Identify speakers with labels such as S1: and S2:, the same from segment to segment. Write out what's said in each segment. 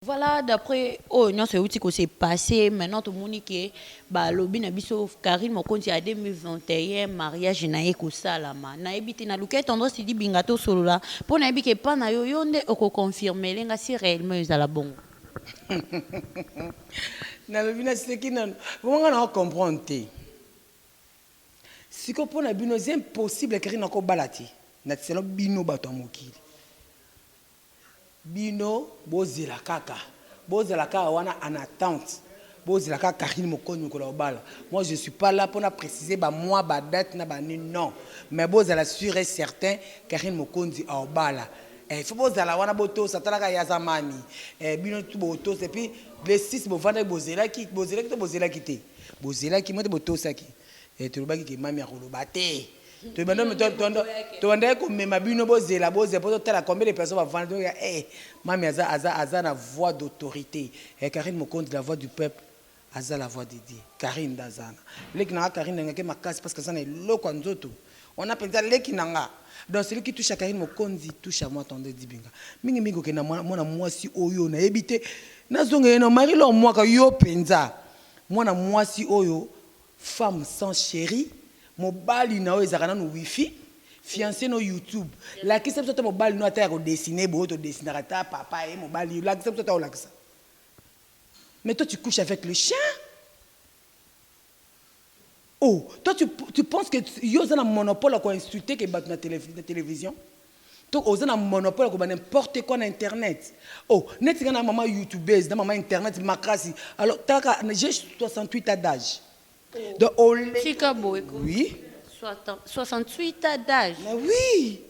S1: Voilà d'après oyo nionso ewuti ko se passe maintenant tomoni ke ba lobi na biso Carine mokonzi ya 2021 mariage naye ekosalama nayebi te nalukaki tendresse dibinga tosolola po nayebi ke epa nayo yonde oko confirmele nga si reellement ezala bongo.
S2: Nalobi naseki nanu vraiment nga nako comprendre te sikoyo pona bino eza impossible Carine ako bala te natisela bino batu ya mokili. Bino bozela kaka bozala kaka wana en attente bozela kaka Carine mokonzi mokolo akobala moi je suis pas là pona precise ba mois ba date na ba nini non mais bozala sur et certain Carine mokonzi akobala eh il faut bozala wana botosa tala kaka ye aza mami eh bino tout botosa et puis le 6 bovandaki bozelaki bozelaki to bozelaki te bozelaki moi te botosaki eh tolobaki ke mami akoloba te Tobandaki komema bino bozela bozela po totala combien de personnes bavandi donc ya eh mamy aza aza aza na voix d'autorite eh Carine Mokonzi la voix du peuple aza la voix de Dieu Carine nde aza wana leki nanga Carine nalingaki makasi parce que aza na eloko ya nzoto wana penza leki nanga donc celui qui touche à Carine Mokonzi touche à moi tonton Dibinga mingi mingi okenda mwana mwana mwasi oyo nayebi te nazongela na Marie Laure Mwaka yo penza mwana mwasi oyo Femme sans cherie mobali na yo ezalaka nanu wifi fiance no youtube lakisa biso ata mobali no ata yako dessine boye to dessinaka ata papa ye mobali yo lakisa biso ata olakisa mais toi tu couche avec le chien oh toi tu tu pense que yo oza na monopole ya ko insulte ke batu na television. To oza na monopole ya koloba n'importe quoi na internet? Oh neti nga na maman youtubeuse na maman internet makasi alors talaka j'ai 68 ans d'age donc oleki Tika boye ko. oui 68 ans
S1: d'age. mais oui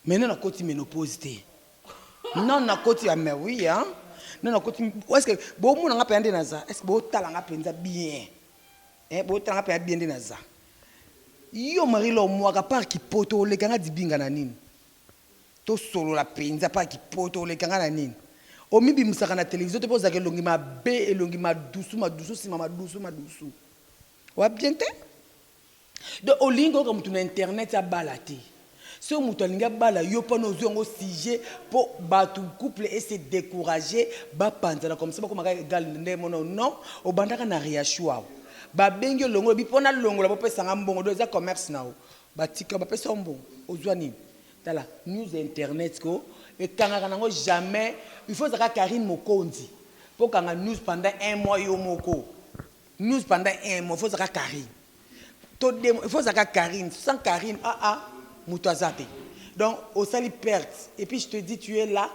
S2: mais nanu akoti menopause te nanu nakoti ya mais oui hein nanu akoti est ce que bomona nga penza nde naza est ce que botala nga penza bien. Eh botala nga paya bien nde naza yo marie l'or muaka par kipoto oleka nga dibinga na nini tosolola penza par kipoto oleka nga na nini omibimisaka na television te po ozaka elongi mabe elongi madusu madusu sima madusu madusu oa bien te donc olingi koyoka mutu na internet abala te Soki mutu alingi abala yo pana ozui yango sujet po batu couple e se decourage ba panzana comme ça bakoma kaka egal nde mona yo non obandaka na riachuau ba bengi yo longola olobi po na longola bo pesa nga mbongo donc eza commerce na yo ba tika yo ba pesa yo mbongo ozua nini tala news ya internet ko ekangaka na ngo jamais il faut ozala kaka Carine Mokonzi po okanga news pendant un mois yo moko news pendant un mois il faut ozala kaka Carine To dem il faut ozala kaka Carine sans Carine ah ah mutu aza te donc osali perte et puis je te dis tu es là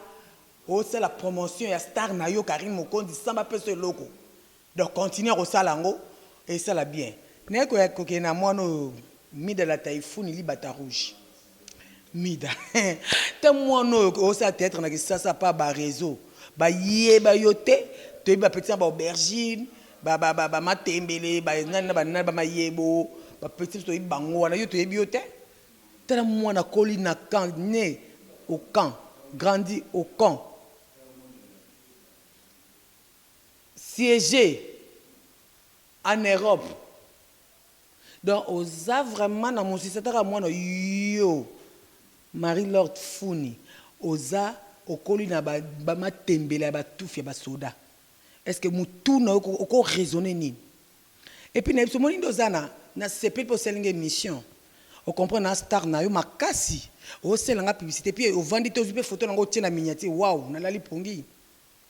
S2: osala promotion ya star na yo Carine Mokonzi sans ba pesa yo eloko donc continue kosala yango esala bien naye koya kokende na muana oyo Mida la Typhoon libata rouge. Mida ta mwana oyo ozo sala theatre na kisasa par ba reseaux ba yeba yo te toyebi ba petits na ba aubergine ba ba ba matembele ba nani na ba nani ba mayebo ba petits biso toyebi bango wana yo toyebi yo te tala mwana akoli na camp ne au camp grandi au camp siege en Europe Donc oza vraiment na musicien ata kaka mwana yo Marie Laure Tfuni oza okoli na ba matembela ya ba tufi ya ba soda est ce que mutu na yo oko raisonner nini? Et puis na yebi omoni nde oza na na sepeli pe osali nga emission o comprendre na star na yo makasi ozo salela nga publicite puis ovandi te ozui pe photo na nga otie na miniature wow na lali pongi.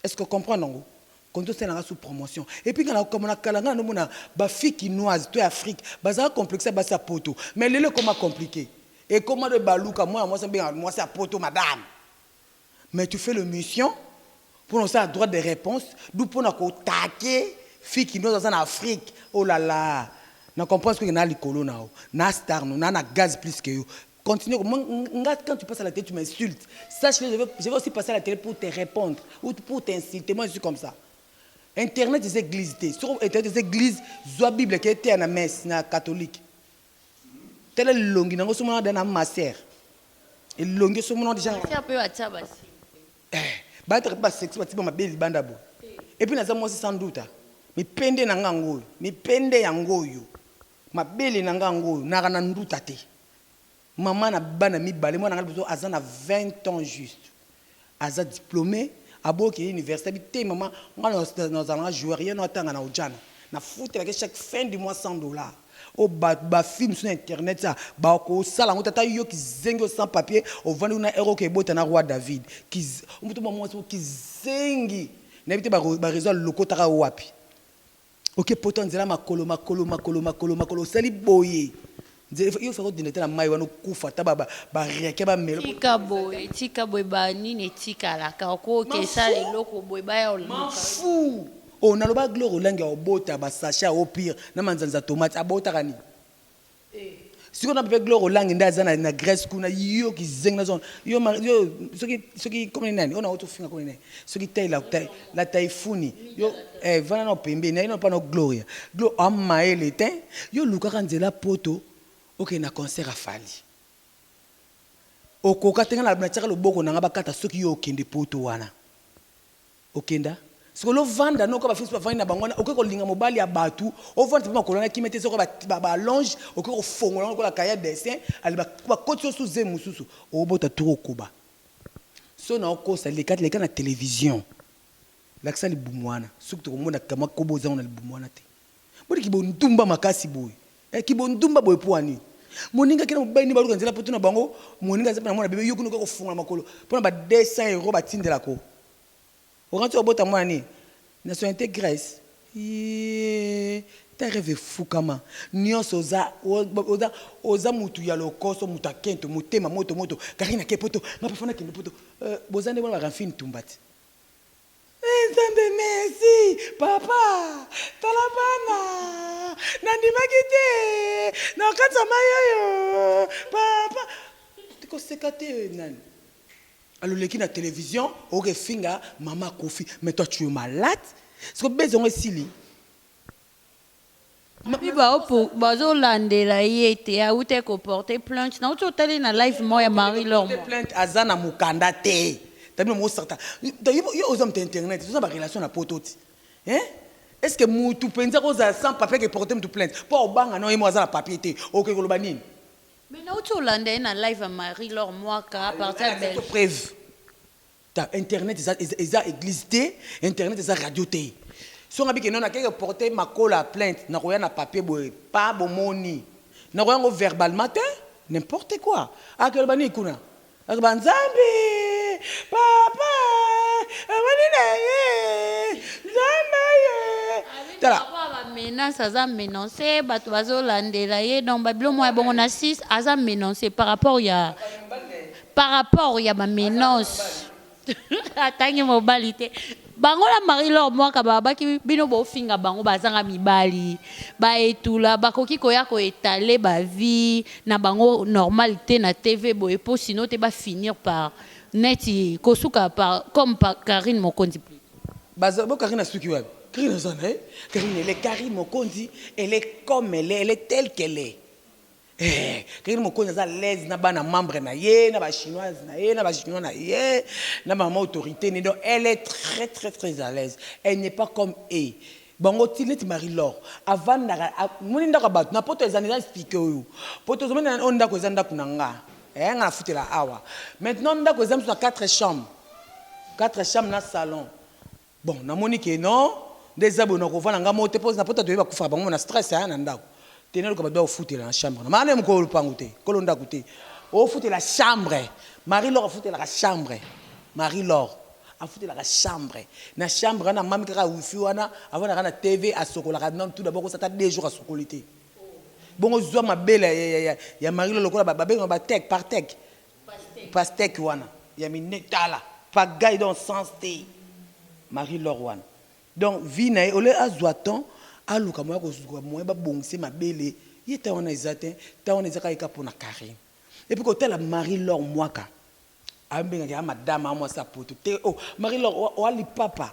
S2: Est ce que o comprendre yango? Konzo sala nga sous promotion et puis nga na kokamua na kala nga nano mona ba filles kinoises to ya Afrique bazalaka complexe ya basi ya poto mais lelo ekoma complique ekoma de baluka mwana mwasi abengaka mwasi ya poto madame mais tu fais le mission pona osala droite de reponse d'où pona ko taquer fille kinoise aza na Afrique oh la la na comprendre ce que na likolo na yo na star no na na gaz plus que yo Continue ko nga quand tu passes à la télé tu m'insultes sache que je vais, je vais aussi passer à la télé pour te répondre ou pour t'insulter moi je suis comme ça internet eza église te soko internet eza église zwa bible ke eteya na messe na catholique tala elongi nango somona da na master elongi somona deja Kasi un peu atia basi.
S1: Eh,
S2: bato ba sexy batiba mabe libanda bo epuis naza mwasi sans doute mipende na nga yango oyo mipende yango oyo Mabele na nga yango oyo naka na nduta te maman na bana mibale mwana nga liboso aza na 20 ans juste aza diplome aboyi oke ye universite abi te maman nga na zala nga joueur ye no atanga na ojana na futelaka ye chaque fin du mois 100 dollars oyo ba ba fille mususu na internet sa ba kosala yango te ata yo kizengi oyo sans papier ovandi kuna heure oke bota na roi david kiz oyo mutu mua muasi moko kizengi na yebi te ba ba raison alokotaka yo wapi Oke poto ya nzela makolo makolo makolo makolo makolo osali boye nzela yo faka odinda te na mai wana okufa ata bariake bamelo tika boye tika boye
S1: ba nini etikalaka okoki esala eloko boye baya fu
S2: o oh, naloba gloire olangi ya obota basache ya opire na manzanza tomate abotaka nini Sikoyo na papa Glore olangi nde aza na Grèce kuna yo kizengi nazo yo yo soki soki comme ni nani ona oto finga comme nani soki taille la taille la taifuni yo eh vana na pembe na ino pa na Gloria Glo a maele te yo lukaka nzela poto oke na concert a Fally okoka te nga na tiaka loboko na nga bakata soki yo okende poto wana Okenda sikoyo lo vanda noko ba fils ba vandi na bango wana oke ko linga mobali ya batu o vandisa pe makolo wana kimia te soki ba ba allonge oke ko fongola yango lokola cahier ya dessin ale ba ba kotisi yo su zemi mususu o bota tu ko koba soki na o kosa leka leka na television lakisa libumu wana soki toko mona ka mwa kobo oza ngo na libumu wana te boni ki bo ndumba makasi boye eh ki bo ndumba boye pua nini moninga kina mobali ni ba luka nzela po tuna bango moninga aza pe na mwana bebe yo kuna oke ko fongola makolo pona ba 200 euros ba tindela ko Okanisi obota mwana nini? Nationalite Grèce? Iiee ta reve efukama nionso oza oza oza mutu ya lokoso mutu ya kento motema moto moto carine ake poto nga parfois na kende poto euh boza nde wana ba raphine tumba ti eh nzambe merci papa tala bana na ndimaki te na okati ya mayi oyo papa tiko seka te nani Aluleki na television oke finga maman koffi mais toi tu es malade sikoyo buzz yango esili?
S1: Epuis bazo landela ye te awutaki ko porter plainte nawuti ko tala ye na live moko ya Marie l'or moko. Akende ko porter plainte aza na
S2: mukanda te tabino muko sakata donc yo oza mutu ya internet oza na ba relation na poto ti hein est ce que mutu penza kozala sans papier ake porter mutu plainte po obanga non ye moko aza na papier te oke koloba nini? Mais nauti
S1: olanda ye na live ya Marie Laure Mwaka a partir ya Alakisa biso Belgique. preuve.
S2: Ta internet eza eza eza eglise te, internet eza radio te. Soki nga bike non akeke porter makola plainte nakoya na papier boye pa bomoni. Nakoya ngo verbalement te, n'importe quoi. Ake aloba nini kuna? Akoloba nzambe papa omoni na ye nzambe aye tala
S1: menace aza menance bato bazolandela ye donc babilo mwa ya bongo na 6 aza menance par rapport ya par rapport ya bamenance atangi mobali te bango na marie lor mwaka babaki bino bofinga bango bazanga mibali baetula bakoki koya koetale bavie na bango normal te na tv boye mpo sino te bafinir par neti kosuka par comme par carine mokonzi plus baza bo
S2: carine asuki wapi carine aza na ye carine ele carine mokonzi ele comme ele ele tel qu'elle est Eeh kekeni mokonzi aza alaise na bana membre na ye na ba chinoise na ye na ba chinois na ye na mama autorite ne donc elle est très très très alaise elle n'est pas comme et bango ti neti marie l'or avandaka omoni ndako ya batu na poto eza eza explique oyo poto ozo mona oyo ndako eza ndako na nga eeh nga na futela awa maintenant ndako eza mususu na 4 chambre 4 chambre na salon Bon na moni ke non nde eza boye nako vanda nga moko te po na poto toyebi ba kufaka bango na stress hein na ndaku te na luka ba doit ofutela na chambre na maman nayo mukolo lupangu te kolo ndaku te ofutela chambre marie l'or afutelaka chambre marie l'or afutelaka chambre na chambre wana mami kaka wifi wana avandaka na TV asokolaka nanu tout d'abord kosala ata deux jours asokoli te bongo zua mabele ya marie l'or lokola ba bengaka ba tech par tech Pastèque wana ya mine tala pagaille donc sens te Marie l'or wana donc vie naye au lieu azua temps aluka moyen akozua moyen ba bongisa ye mabele ye temps wana eza te temps wana eza kaka ye kaka pona Carine et puis kotala Marie l'or muaka azo benga ke a madame a mwasi ya poto te oh Marie l'or oa lipapa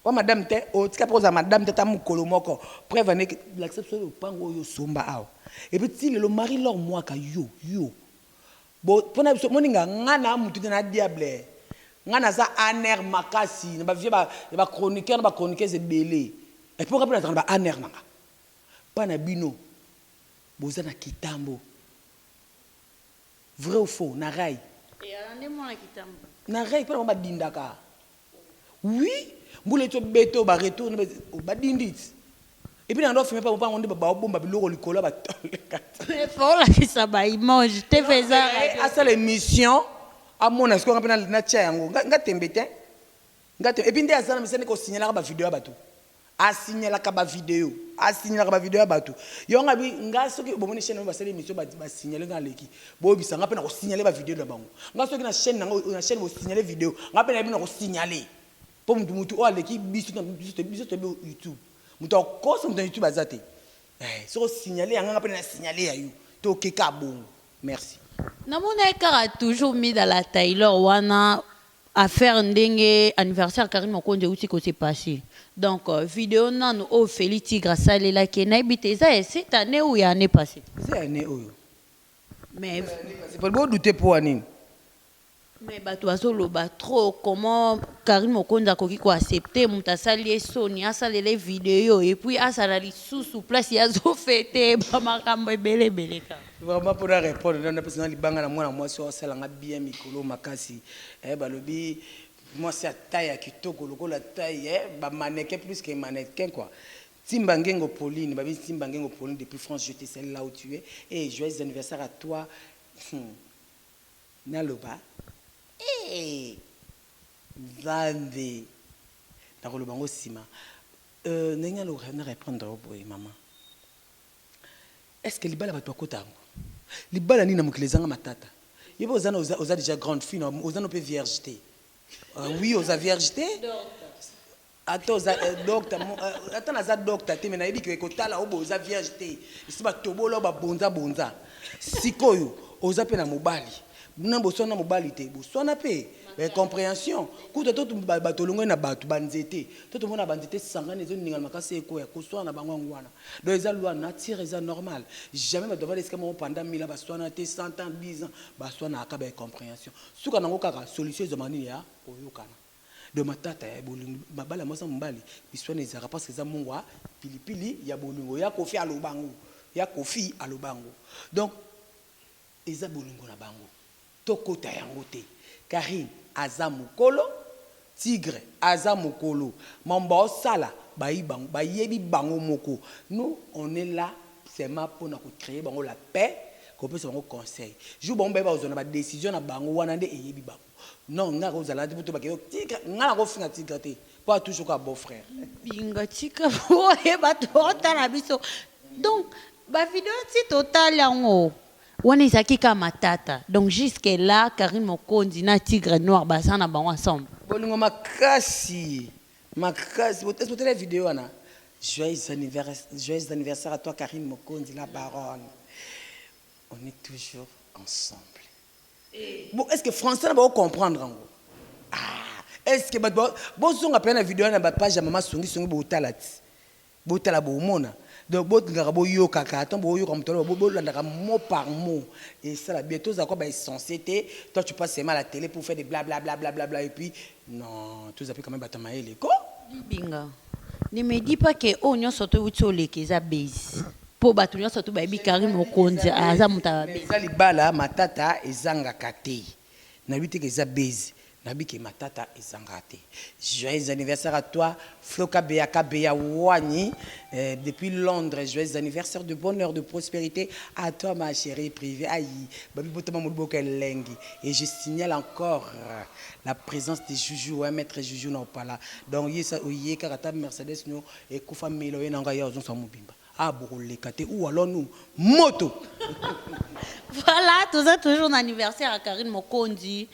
S2: oa madame te oh tika pe kozala madame te ata mukolo moko preuve en est ke lakisa biso lopangu oyo osomba awa et puis ti lelo Marie l'or muaka yo yo Bo pona biso moninga nga na mutu te na diable nga naza anr makasi na ba vie ba ya ba chroniqueur na ba chroniqueuse ebele et puis nga pe nazalaka na ba anr nanga pa na bino boza na kitambo
S1: vrai ou faux na ray Eyala
S2: nde
S1: mwana
S2: kitambo.
S1: na
S2: ray pona bango
S1: ba dindaka.
S2: Oui mbula ezo beta oyo ba retour nde ba dindit et puis na ndof mpe bango nde bao bomba biloko likolo ya ba tole kata Mais faut olakisa
S1: ba image te pe eza radio. asala emission
S2: amona sikoyo nga mpe natia yango nga tembe te nga tembe et puis nde aza na misala nde ko signalaka ba video ya batu A signalaka ba video. A signalaka ba video ya batu. Yango nga nalobi nga soki bomoni chaine na bino basali emission ba ba signaler nga naleki. Boyebisa nga pe nako signaler ba video na bango. Nga soki na chaine na nga na chaine bo signaler video nga pe nayebi nako signaler. Po mutu mutu oyo aleki biso na biso biso toyebi youtube. Mutu akosa mutu na youtube aza te. Eeh soki o signaler ya nga nga pe na signaler ya yo. To ke ka bongo. Merci. Namonaki
S1: kaka toujours mida la tailor wana. Affaire ndenge anniversaire Carine Mokonzi ewuti ko se passer donc video nanu oyo Felly Tigre asalelaki ye nayebi te eza ya cette annee ou ya annee passee? Eza ya annee oyo mais Bo
S2: douter poa nini?
S1: Mais batu bazo loba trop comment Carine Mokonzi akoki ko accepter mutu asali ye soni asalela ye video et puis azala lisusu place ye azo feter ba makambu ebele ebele kaka. Vraiment po na repondre
S2: nanu napesa na libanga na mwana mwasi oyo asala nga bien mikolo oyo makasi eh balobi mwasi ya taille ya kitoko lokola taille eh ba mannequin plus que mannequin quoi Timba Ngengo Pauline babini Timba Ngengo Pauline depuis France je te salue là où tu es eh joyeux anniversaire à toi hum naloba eh Nzambe nakoloba ngo sima euh ndenge naloba na repondre yo boye maman Est-ce que libala batu bakota yango? Libala nini na mokili ezanga matata? Yo pe oza na oza oza dejà grande fille na oza no pe vierge te euh oui oza vierge te ata oza euh docta mo euh ata naza docta te mais nayebi ke kotala yo boye oza vierge te esi ba tobola yo ba bonza bonza sikoyo oza pe na mobali Bna boswana na mobali te boswana pe ba incomprehension kutu ata bato olongwe na bato ba nzete to tomona ba nzete esangani ezo ningana makasi ekweya koswana na bango yango wana donc eza loi nature eza normal jamais bato bavanda esika moko pendant 1000 ans baswana te 100 ans 10 ans baswana aka ba incomprehension suka nango kaka solution ezwama nini ya koyokana donc matata ya bolingo mabala mwasi na mobali biswana ezalaka parce que eza mungwa pilipili ya bolingo ya kofi alobango ya kofi alobango donc Eza bolingo na bango to kota yango te carine aza mukolo tigre aza mukolo mambo bao sala bayi bango ba yebi bango moko nous on est là seulement pona ko cree bango la paix ko pesa bango conseil jour bango baye bakozua na ba decision na bango wana nde eyebi bango. Non nga ko zala nabiso ba kende tika nga na ko finga tika te po a toujours kaka beau frère. Pinga tika
S1: boye batu ba otala biso donc ba video ti to tali yango wana ezalaki kaka matata donc jusque là Carine Mokonzi na Tigre noir baza na bango ensemble? Bolingo makasi
S2: makasi est-ce botala video wana joyeux anniversaire joyeux anniversaire à toi Carine Mokonzi la baronne on est toujours ensemble. Bon est-ce que français na bako comprendre yango? Aah est-ce que batu bozonga pena na video wana na ba page ya mama songi songi botala ti botala bomona donc bolingaka boyokaka tango boyoka mutu aloba bolandaka mot par mot esala bien tozala ko ba essentiel te toi tu passe seulement à la tele pour faire des blablabla blablabla et puis Non toza pe quand meme bata mayele ko. Dibinga
S1: ne me dis pas que oyo nionso tout ewuti oleka eza buzz po batu nionso tout bayebi Carine Mokonzi aza mutu ya ba buzz. Eza libala matata
S2: ezangaka te nalobi te ke eza buzz nalobi ke matata ezangaka te joyeux anniversaire à toi Flo kabeya kabeya wanyi depuis Londres joyeux anniversaire de bonheur de prosperite à toi ma cherie privee ayi babi botama moloboko elengi et je signale encore La presence de Juju ouais maitre Juju na opala donc ye sa oye kaka ta Mercedes no ekufa mela oye na nga ya ozongisa mobimba ah boko leka te ou alors nous moto
S1: Voilà, toza toujours na anniversaire ya Carine Mokonzi.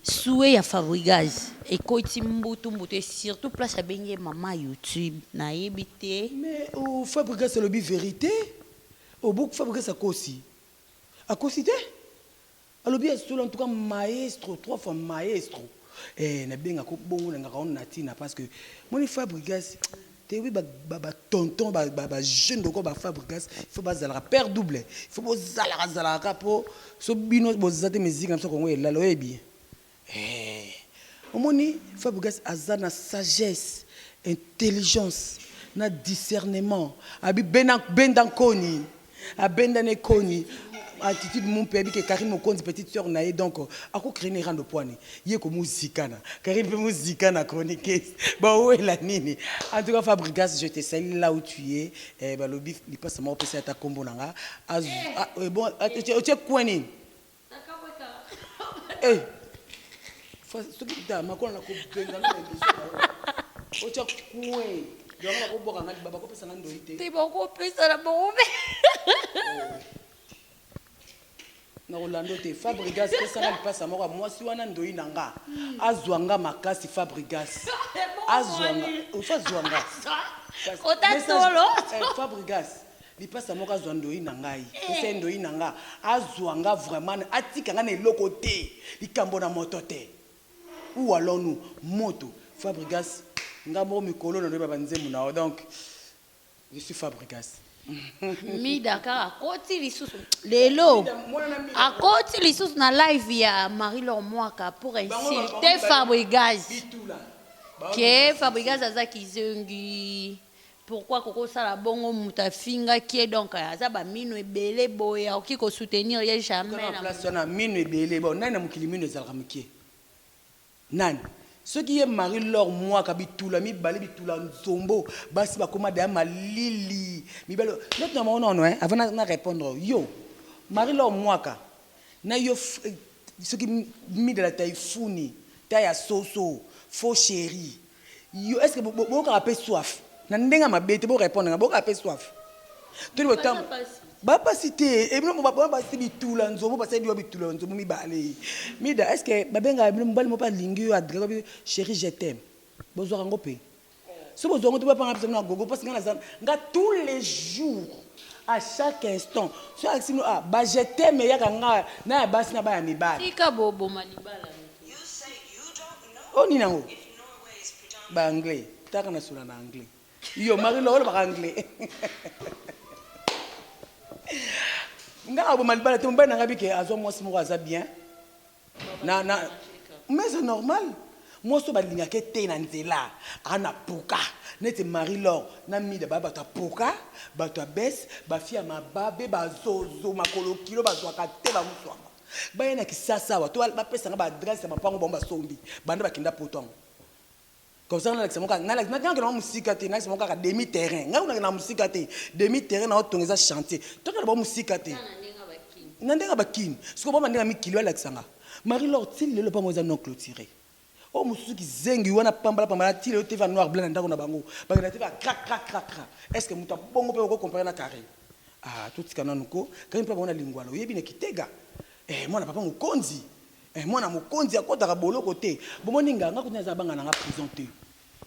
S1: Souhait ya Fabrigaz ekoti mbutu mbutu et surtout place abengi ye maman YouTube nayebi te. Mais oh,
S2: Fabrigas alobi verite. Obuku Fabrigas akosi. Akosi te? Alobi ya solo en tout cas maestro trois fois maestro eh na benga ko bongo na ngaka on na tina parce que moni fabrigas te oui ba ba ba tonton ba ba ba jeune doko ba fabrigas il faut ba zalaka père double il faut bo zalaka zalaka ka po so bino bo zate musique na biso kongo elala oyebi Eeh omoni Fabrigas aza na sagesse, intelligence na discernement abi bena benda nkoni abenda ne koni attitude mumpe ayebi ke Carine Mokonzi petite soeur na ye donc ako cree ne rando pwani ye ko muzika na Carine pe muzika na chroniquese ba wela nini en tout cas Fabrigas je te salue là où tu es eh balobi lipasa moko pesa ye ata kombo na nga azo eh bon otie coin nini Eh, soki da makona na kobenga na biso otya kue yango bakobwaka nga liba bakopesa nga ndoi te te bakopesa na
S1: bango mpe
S2: na rolando te fabrigas pesanga lipasa moko ya mwasi wana ndoi na nga azwa nga makasi fabrigas azwa nga ofa azwa nga Kota
S1: Message- solo. Eh, fabrigas
S2: Lipasa moko azwa ndoyi na ngai ese ndoyi na nga azwa nga vraiment atika nga na eloko te likambo na moto te ou allons nous moto fabrigas nga moko mikolo na loyeba ba nzembo na yo donc je suis fabrigas mida
S1: kaka akoti lisusu lelo akoti lisusu na live ya marie lor mwaka pour insulte fabrigas ke fabrigas aza kizongi Pourquoi koko sala bongo mutu afingaki ye donc aza ba minu ebele boye akoki ko soutenir ye jamais Kaka na na place wana minu
S2: ebele bon nani na mokili minu ezalaka mukie? Nani? Soki ye Marie l'or muaka bitula mibale bitula nzombo basi bakoma dejà malili mibali oyo neti na bango nono hein avant na repondre yo Marie l'or muaka na yo soki mida la taifuni ta ya soso faux cherie Yo est ce que bo yokaka pe soif na ndenge ya mabe te bo repondre nga bo yokaka pe soif to ni botambo ba pasi te et bino ba ba basi bitula nzobo basali biwa bitula nzobo mibale mida est ce que ba benga bino mobali mo pa lingi yo adresse bi chérie je t'aime bo zwaka ngo pe so bo zwa ngo te bo panga pesa na gogo parce nga na za nga tous les jours à chaque instant so alexi no ah ba je t'aime yaka nga na ya basi na ba ya mibali tika bo boma
S1: libala Oyo
S2: nini yango? Ba anglais. Taka na sula na anglais. Yo Marie Laure ba anglais. Nga abo malibala te mobali na nga bike azwa mwasi moko aza bien. Na na mais c'est normal. Mwasi ba lingaka te na nzela. Ana poka. Neti Marie Laure na Mida ba bata poka, bata bes, ba fille ya mababe, ba zozo, makolo kilo ba zwaka te ba musuama. Baya na kisasa awa to ba pesa nga ba adresse ya mapangu bango ba sombi banda ba kenda poto yango comme ça na lakisa moka na lakisa na kenda musika te na lakisa moka ka demi terrain nga na kenda musika te demi terrain na otonga eza chantier to kenda ba musika te na ndenge ba kin siko ba ndenge mi kilo lakisa nga Marie Laure ti lelo pango eza non clôturé Oyo mususu kizengi wana pambala pambala atila yo TV noir blanc na ndako na bango bakenda TV ya crac crac crac crac est ce que mutu ya bongo pe oko comparer na carre ah totika nanu ko carine pe abongo na lingwala oyebi na kitega eh mwana papa mokonzi eh mwana mokonzi akotaka boloko te bomoni nga nga kutu naza banga na nga prison te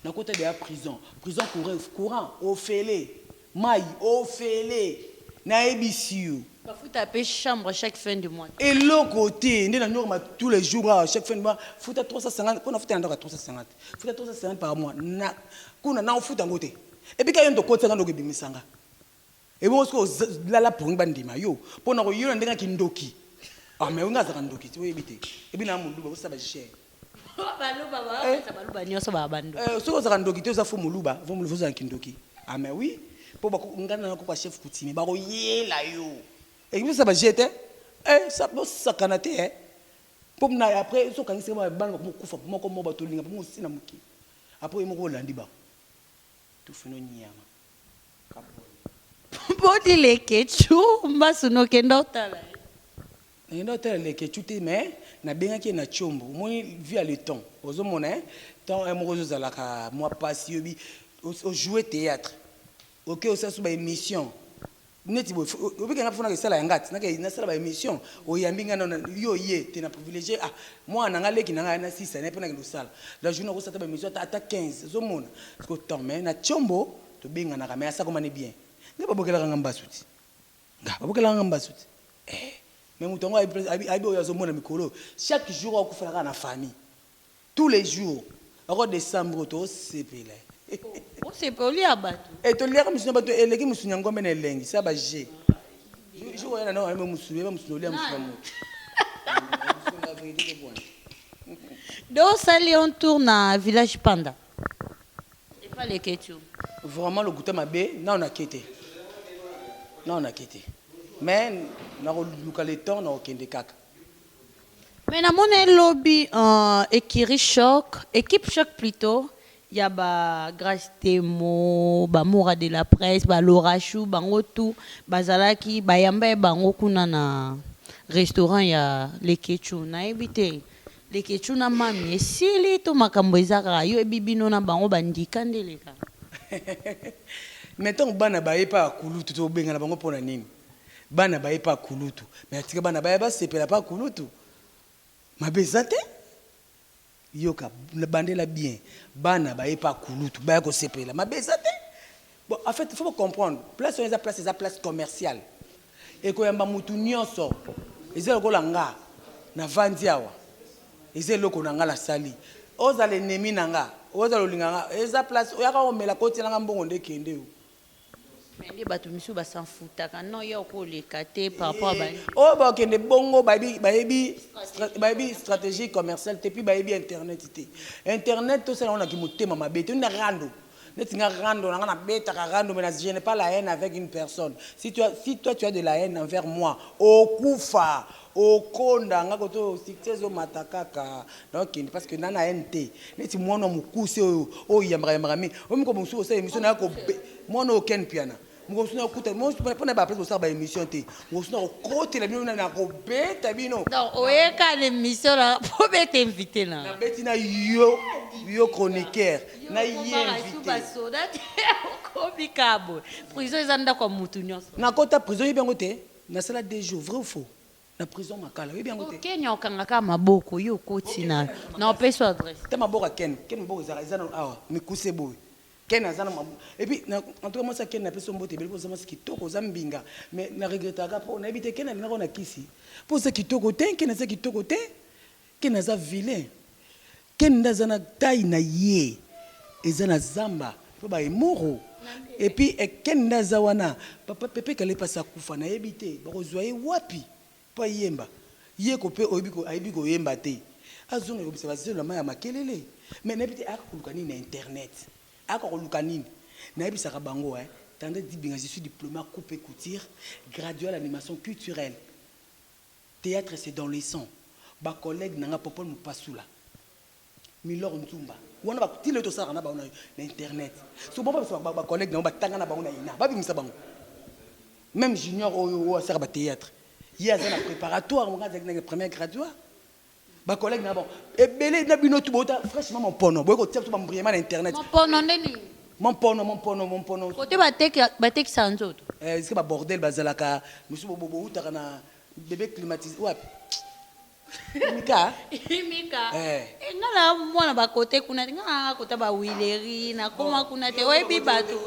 S2: Na kota dejà prison prison courent courant ofele mayi ofele na yebisi yo. Ba futa pe
S1: chambre chaque fin du mois te. Eloko te
S2: nde na norma tout les jours awa chaque fin du mois futa 350 po na futa na ndako ya 350 futa 350 par mois na kuna na ofuta yango te epuis ka yo nde okotisa nga nde oke bimisa nga. Ebongo sikoyo oza lala pongi ba ndima yo pona ko yola ndenge ya kindoki ah mais olinga azalaka ndoki te oyebi te ebi na muluba bo saba jeu Ba baluba
S1: ba eh kanisa baluba nioso ba ba ndoki. Eh soki ozalaka ndoki te oza
S2: faut muluba faut muluba ozala kindoki ah mais oui po ba nga na ko ba chef coutumier ba ko yela yo ebi bo saba jeu te eh sa bo sakana te eh po na après soki okangi seke bana ba ko kufa moko moko ba to linga bango osi na mokili après yo moko olandi bango. Tufi no niama kaponda.
S1: Body leketshou mbasu nokenda otala ye. Nakenda
S2: otala leketshou te mais na bengaki ye na tshombo omoni vu ya le temps ozo mona hein temps heure moko ezo zalaka mua pasi oyebi o jouer theatre oke osasu ba emission neti boye obika nga fona kesala ya ngati na ke nasala ba emission oyambi nga na yo ye te na privilégié ah moi na nga leki na nga na sisa na pona ke losala la journée ko sata ba emission ata ata 15 zo mona ko temps mais na tshombo to benga na ka mais asako mane bien nga ba bokela ka nga mbasu ti nga ba bokela ka nga mbasu ti eh mais mutu ango ayebi ayebi oyo azo mona mikolo chaque jour akufela ka na famille Tous les jours oko decembre oyo too sepela Bosepe
S1: olia batu. Eh to liaka musuni ya batu
S2: eleki musuni ya ngombe na elengi sa ba jeux jour jour oya na ndako na yo musuni oyeba musuni olia musuni ya mutu musuni ya verite to
S1: buana. Do sali un tour na village panda epa leketshou. Vraiment
S2: lokuta mabe nanu na ke te nanu na ke te mais nako luka le temps nako kende kaka.
S1: Mais na mona ye lobi ahh ecurie choc, equipe choc plutot, ya ba grace temo, ba mura de la presse, ba laura choux bango tout ba zalaki ba yamba ye bango kuna na restaurant ya leketshou na yebi te leketshou na mamy esili to makambu eza kaka yo yebi bino na bango ba ndika nde eleka. Mais
S2: tango bana baye epa ya kulutu to bengana bango pona nini? bana baye pa kulutu mais atika bana baya basepela pa kulutu mabe eza te yoka bandela bien bana baye pa kulutu baya kosepela mabe eza te bon en fait il faut comprendre place wana eza place eza place commerciale ekoyamba mutu nyonso eza lokola nga navandi awa eza eloko na nga nasali ozala enemi na nga ozala olinga nga eza place oyaka omela kotiela nga mbongo nde kende yo Mais nde
S1: batu misusu ba s'en foutaka non yo oko leka te par rapport ba oyo bakende
S2: bongo bayebi bayebi stra- bayebi stratégie commerciale te puis bayebi internet te internet tosala yango na kimotema mabe te na rando neti nga rando na nga nabetaka rando mais na je n'ai pas la haine avec une personne si tu as, si toi tu as de la haine envers moi okufa Okonda nga koto succès ezo mata kaka na okende parce que na na haine te neti mwana mukuse oyo oyo yambaka yambaka mingi oyo moko mosusu osa emission na ko mwana oyo Ken Mpiana moko mosusu na kuta mo pona ba place bosaka ba emission te mosusu na kokotela bino na ko beta bino donc oyeka na
S1: emission na po beta invité na na beti na yo
S2: yo chroniqueur na ye invité okomi
S1: kabo prison eza ndako ya mutu nionso na kota prison yebi yango
S2: te. Nasala deux jours vrai ou faux na prison makala oyebi yango te. Ken okanga kaka maboko
S1: yo okoti na na opesi yo adresse. Ta maboko ya ken ken
S2: maboko ezalaka eza nanu awa mikuse boye ken aza na maboko et puis na en tout cas mwasi ya ken napesi yo mbote ebele po oza mwasi kitoko oza mbinga mais na regretaka po nayebi te ken alingaka yo na kisi po oza kitoko tein ken aza kitoko tein Ken aza vilain ken nde aza na taille na ye eza na zamba po ba emoro et puis ken nde aza wana papa pepe kale pasi akufa na yebi te bako zua ye wapi po ayemba ye ko pe oyebi ko ayebi ko yemba te azonga ko bisa ba zelo na mayi ya makelele mais na yebi te ayaka ko luka nini na internet ayaka ko luka nini na yebisaka bango hein tendresse dibinga je suis diplome ya coupe et couture graduee ya animation culturelle Theatre c'est dans le sang ba collegues nanga popol mupasula milor nzumba wana ba ti lelo tosalaka na bango na internet soki ba bengisa ba ba collegues na bango ba tanga na bango na ina ba bimisa bango meme junior oyo oyo asalaka ba theatre ye aza na preparatoire nga nazalaki na première graduat Ba collègues na bango ebele na bino tu bota franchement mon pono boye kotia biso ba mbriema na internet. Mon pono nde nini?
S1: Mon pono mon
S2: pono mon pono. Kote ba teka
S1: ba tekisa nzoto. Eh est ce que ba bordel
S2: bazalaka misusu bo bowutaka na bebe climatise wapi? Imika Imika
S1: eh eh nga na mwana ba kote kuna te nga na kota ba huilerie na koma kuna te oyebi batu.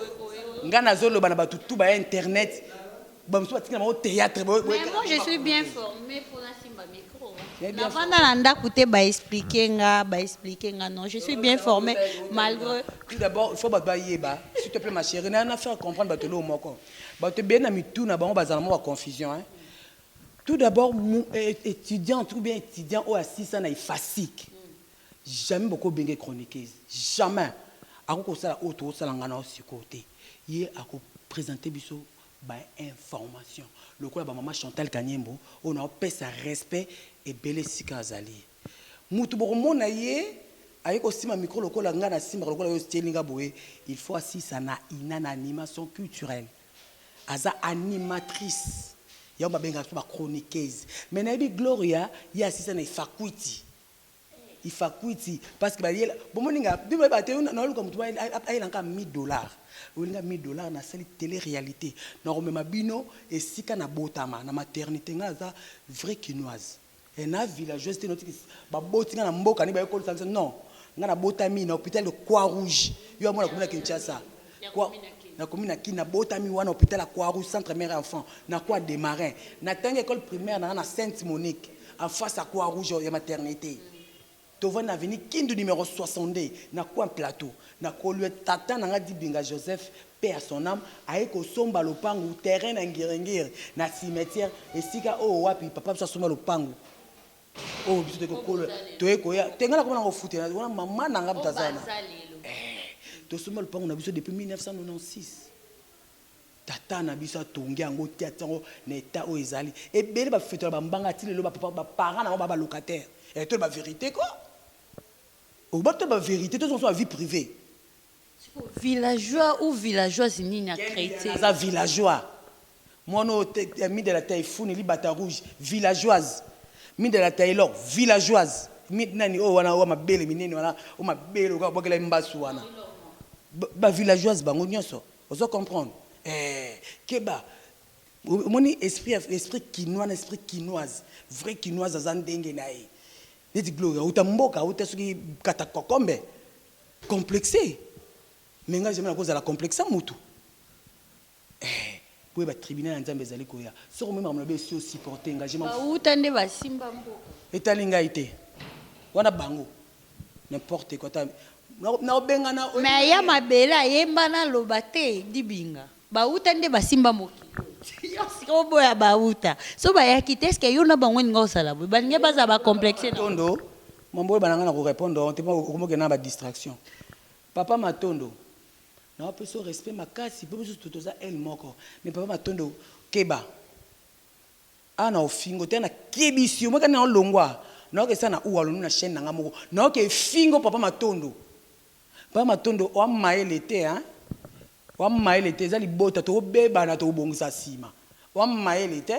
S1: Nga nazo
S2: loba na batu tu ba internet. Ba mususu batikela bango theatre boye boye. Mais moi je suis
S1: bien formé pour la simba micro. Na vanda na ndaku te ba expliquer nga, ba expliquer nga non, je suis bien formé malgré Tout d'abord, il faut
S2: bato bayeba, s'il te plaît ma chérie, na na faire comprendre bato eloko moko. Bato ebele na mitu na bango bazala mwa ba confusion hein. Tout d'abord, mu- eh, étudiante ou bien étudiant oyo asisa na IFASIC, jamais boko benge chroniqueuse, jamais. Ako kosala oyo tokosala nga na yo sikoyo te. Ye ako presenter biso ba information lokola ba maman Chantal kaniembo oyo nao pesa respect ebele esika azali mutu boko mona ye aye ko simba micro lokola nga na simbaka lokola yo otieli nga boye il faut asisa na ina na animation culturel aza animatrice yango ba bengaka biso ba chroniqueuse mais na yebi gloria ye asisa na efakuiti Ifakuiti parce que bayela bomoni nga bino bayeba te na oluka mutu ayela nka 1000 dollars olinga 1000 dollars na sali tele realite na komema bino esika na botama na maternite nga naza vrai kinoise eh na villageoise te noti baboti nga na mboka nde baye kolisa biso non nga na botami na hopital de croix rouge yo amona komona Kinshasa Nakomi na kin, nabotami wana hopital ya Croix Rouge, centre mère enfant, na Croix de Marin. Natangi ecole primaire na nga na Sainte Monique, en face ya Croix Rouge ya maternite. Tovandi na avenue Kindu numero 62, na coin plateau. Na kolue, tata na nga Dibinga Joseph, paix à son ame, aye kosomba lopangu, terrain na Ngiri-Ngiri, na cimetière, esika oyo wapi papa biso asomba lopangu. Oyo biso toye kokolo toye koya te nga nakoma na kofute na wana mama na nga mtazana eh tosomba lupango na biso depuis 1996 tata na biso atongi yango te atia yango na etat oyo ezali ebele bafetola bambanga ati lelo bapapa baparent na yango ba balocataire eh toyeba verite ko oba toyeba verite tozonga so ba vie privee Sikoyo villageois
S1: ou villageoise nini a cree te. Aza villageois
S2: muana oyo te mida la taifuni libata rouge villageoise mida la tailor villageoise mi nani oyo wana oyo mabele minene wana oyo mabele lokola babwakela ye mbasu wana ba villageoise bango nionso ozo comprendre eeh keba omoni esprit ya esprit kinois na esprit kinoise vrai kinoise aza ndenge na ye neti gloria awuta mboka awuta soki kata kokombe Complexe? Mais nga jamais nako zala complexe ya mutu eh! Boyeba tribunal ya Nzambe ezali koya, soki omoni makambo na biso esi o supporter nga je m'en fous. Bawuta nde basimba
S1: mboka. Etali ngai te,
S2: wana bango. N'importe quoi, ata nako bengana. Mais aya mabele
S1: ayemba naloba te, Dibinga. Bawuta nde basimba mokili oyo. Yo sika oboya bawuta. So bayaki te eske yo na bango olinga osala boye. Balingi baza ba complexe. Matondo,
S2: mambo oyeba na nga na ko repondre yo te mpo okomi okende na ba distraction. Papa Matondo, nao pesi yo respect makasi mpo biso tout toza aile moko. Mais papa Matondo keba. Awa na ofingo te, awa na kebisi yo. Omoni kani nao longwa? Nao ke sa na uwalonu na chaine na nga moko. Nao ke fingo papa Matondo. Papa Matondo oa mayele te hein. Wa mayele te eza libota toko bebana toko bongisa sima wa mayele te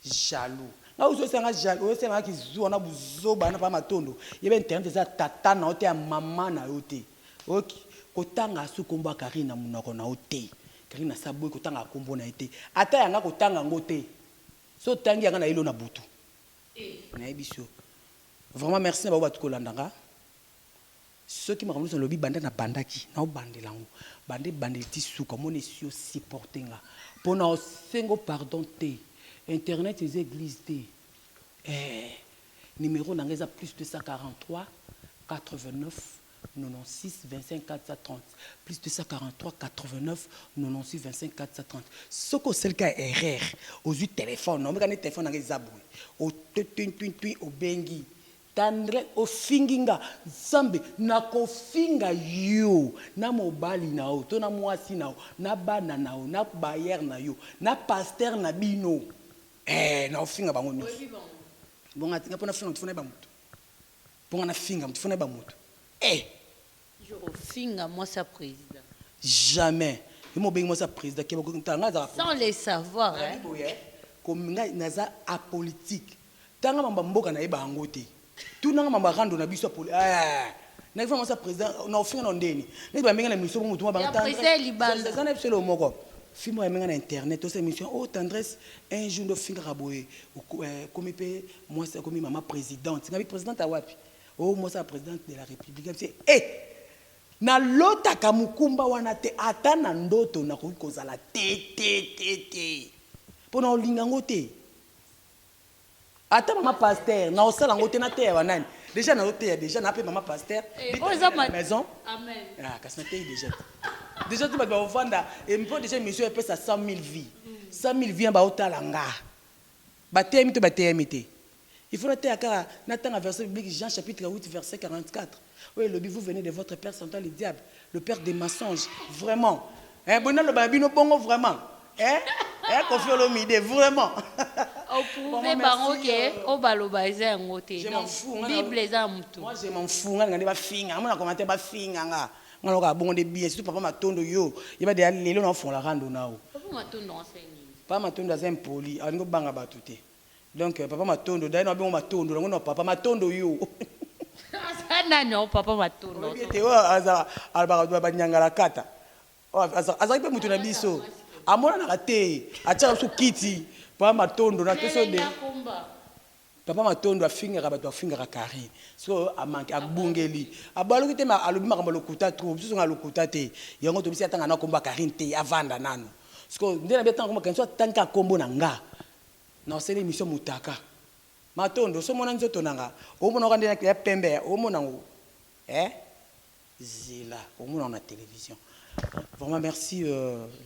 S2: jaloux nga ozo sala nga jaloux ozo sala nga kizuwa na buzoba na papa matondo yeba internet eza ya tata na yo te ya maman na yo te ok ko tanga asusu kombo ya carine na munoko na yo te carine asi aboyi ko tanga kombo na ye te ata ya nga ko tanga yango te soki otangi ya nga na yeli yo na butu na yebisi yo vraiment merci na bango batu ko landa nga. Soki makambo nionso nalobi banda na bandaki nao bandela yango banda ebandeli ti suka omoni esi o supporter nga po nao sengo pardon te internet eza eglise te eeh numero na nga eza +243496250430 +243496250430 soki osali ka erreur ozui telephone omeka nde telephone na nga eza boye o tuin tuin tuin obengi Tendre ofingi nga nzambe nako finga yo na mobali na yo to na muasi na yo na bana na yo na bailleur na yo na pasteur na bino eeh nako finga bango nionso bonga te nga po na finga mutu faut na yeba mutu po nga na finga mutu faut na yeba mutu eeh.
S1: Toujours ofinga mwasi ya president. Jamais
S2: yo mobengi mwasi ya president keba kotala nga nazalaka politique sans le savoir
S1: hein. Nayebi boye ko nga
S2: naza apolitique tala nga mambo ya mboka nayebaka yango te tuna nga mambo ya rando na biso ya poli eeh nayaki fana mwasi ya president na ofinga na ndeni neti ba menga na emission po mutu mwa banga tendresse eza
S1: na biso eloko moko
S2: fille moko ya menga na internet osa emission oh tendresse un jour nde ofingaka boye okomi pe mwasi okomi maman presidente ngabi presidente ya wapi Oh mwasi ya presidente de la republique abisi eh na lotaka mukumba wana te ata na ndoto na koki kozala te te te te po na olinga ngo te ata mama pasteur na osala ngo te na teya wa nani deja na oteya deja na pe mama pasteur eh, bita na maison amen ah
S1: kasi na teyi
S2: deja deja te bato bakovanda empo eh, deja émission epesa 100 000 vie 100 000 vie ya baotala nga bateyami to bateyami te Il faut nateya kaka natanga verset biblique Jean chapitre 8 verset 44 oyo elobi vous venez de votre père Satan le diable le père des mensonges vraiment eh boye naloba na bino bongo vraiment eh eh Koffi Olomide vraiment o
S1: prouver bango ke o baloba eza yango te donc bible
S2: eza ya mutu
S1: moi je m'en fous nga linga nde
S2: bafinga amona commentaire bafinga nga nga na oka bongo nde bien surtout papa matondo yo yeba deja lelo na ofongola rando nao
S1: papa matondo aza
S2: impoli alingi obanga batu te Donc papa matondo dai na bino matondo na ngo na papa matondo yo. Aza
S1: nani yango papa matondo? Oyebi ete oyo aza
S2: alobaka ba niangalakata oyo azalaki mpe moto na biso amonanaka te atiaka biso kiti papa matondo na pesi yo de papa matondo afingaka bato afingaka carine so amanke abungeli abaluki te ma alobi makambo lokuta trop biso zonga lokuta te yango tobisi atanga na kombo ya carine te avanda nano sikoyo nde na bi atanga kombo ya carine so atanga kombo na nga Na sali emission motaka. Matondo oso mona nzoto nanga omona oka nde ya pembe eh omona ngo eh zela omona ngo na television vraiment merci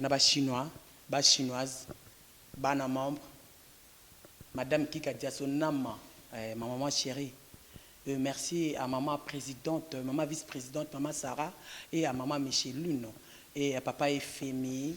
S2: na ba chinois ba chinoise bana membre madame kika diaso nama eh ma maman cherie euh merci à maman presidente maman vice presidente maman Sarah et à maman Michelune et à papa Efemi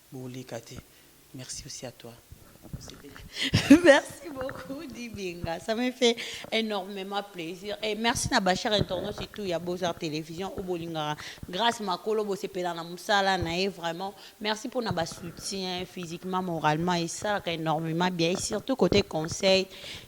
S2: Boleka te merci aussi à toi nasepeli. Merci
S1: beaucoup Dibenga, ça me fait enormement plaisir et merci na ba chers internautes surtout ya Beaux Arts Television oyo bolingaka Grace Makolo bosepela na musala na ye vraiment merci pona ba soutien physiquement, moralement esalaka enormement bien et surtout cote conseil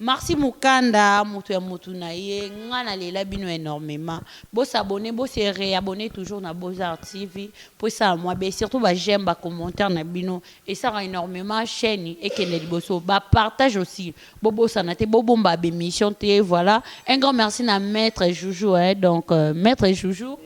S1: Marcy mukanda mutu ya mutu na ye nga na lela bino enormement bo s'abonner bo se reabonner toujours na beaux arts TV po esala mua bien surtout ba j'aime ba commentaires na bino esaka enormement chaine ekende liboso ba partage aussi bo bosana te bo bomba b'emission te voilà un grand merci na maitre Joujou hein donc euh, maitre Joujou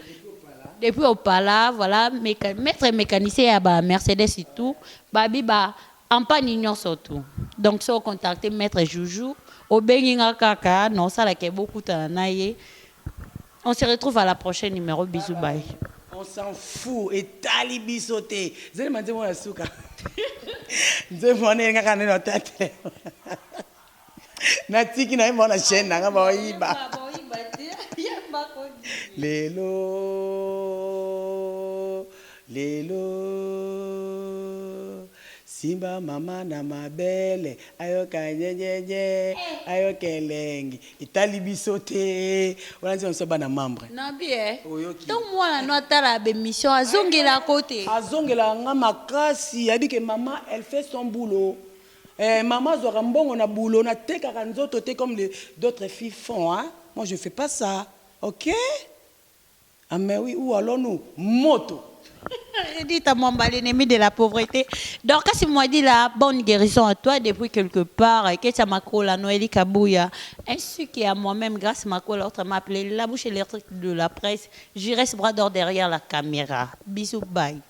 S1: depuis opala voilà meca maitre mecanicien ya ba Mercedes et tout babi ba Campagne nionso tout donc soki o contacter maitre Joujou obengi nga kaka na osala ke bo kutana na ye on se retrouve à la prochaine numero bisous bye. On s'en
S2: fou etali biso te. Zele ma nzembo na suka nzembo wana elingaka nde na ta telema. Natiki na ye mwa na chaîne na nga baoyiba. Lelo, lelo, simba mama na mabele ayoka nyenyenye, ayoka elengi etali biso te. Wana nzembo ya biso bana membre. Na bie. Oyoki.
S1: Ntango mwana no atala b'emission azongelaka yo te? Azongelaka nga
S2: makasi, ayebi ke mama elle fait son boulot. Eeh maman azwaka mbongo na boulot na tekaka nzoto te comme les d'autres filles font hein moi je fais pas ça ok ah mais oui ou allons nous moto. Ridita
S1: Mwamba l'ennemi de la pauvrete Dorcas Mwadila bonne guerison à toi depuis quelque part Ketia Makola Noeli Kabuya ainsi que à moi même Grace Makola autrement appelée la bouche électrique de la presse Giresse bras d'or derrière la camera bisous bye.